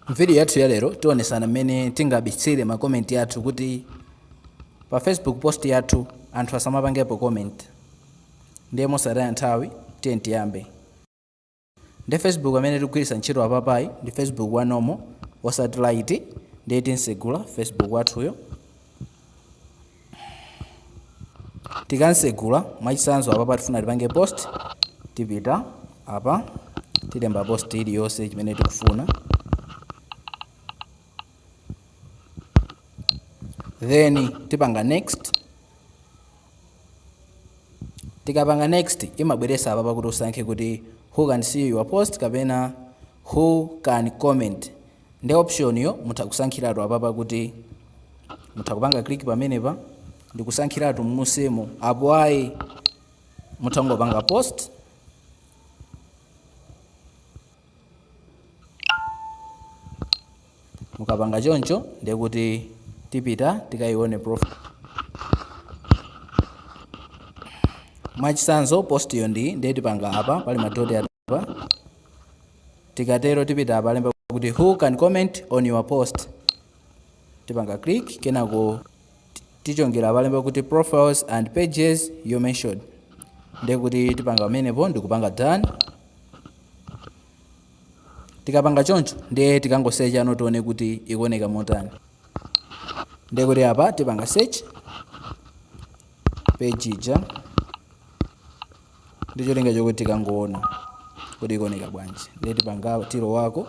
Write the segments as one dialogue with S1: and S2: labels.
S1: M'vidiyo yathu ya lero tionesana mmene tingabitsire makomenti yathu kuti pa Facebook post yathu anthu asamapangepo comment. Ndiye mosataya nthawi tiyeni tiyambe. Ndi Facebook amene tikugwiritsa ntchito apapayi ndi Facebook wa normal osati lite ndiye tinsegula Facebook wathuyo. tikamsegula mwachitsanzo apapa tifuna tipange post tipita apa tilemba post iliyonse chimene tikufuna then tipanga next tikapanga next imabweresa apapa kuti usankhe kuti who can see your post kapena who can comment Nde option yo mutha kusankhiratu apapa kuti mutha kupanga click pamenepa ndikusankhiratu mmusimu apo ayi mutha kungopanga post mukapanga choncho ndiye kuti tipita tikayione profile mwachisanzo post yo ndi ndiye tipanga apa pali madoti apa tikatero tipita apa alemba kuti who can comment on your post tipanga click kenako tichongera apa alemba kuti profiles and pages you mentioned ndiye kuti tipanga pamenepo ndikupanga done tikapanga choncho ndiye tikangosecha pano tione kuti ikuoneka motani ndiye kuti apa tipanga search page ija ndi cholinga chokuti tikangoona kuti ikuoneka bwanji ndiye tipanga tiloweko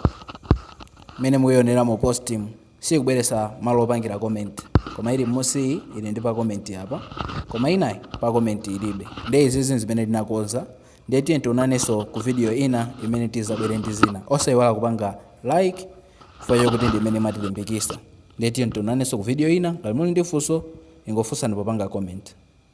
S1: mmene mukuyionera mu postimu sikubweresa malo opangira comment koma ili mmusiyi ili ndi pa comment apa koma inayi pa comment ilibe ndiye izizi zimene tinakonza ndiye tiye tionanenso ku video ina imene tizabwere ndi zina osayiwala kupanga like chifukwa chokuti ndi imene imatilimbikisa ndiye tiye tionanenso ku video ina ngati muli ndi funso ingofunsani popanga comment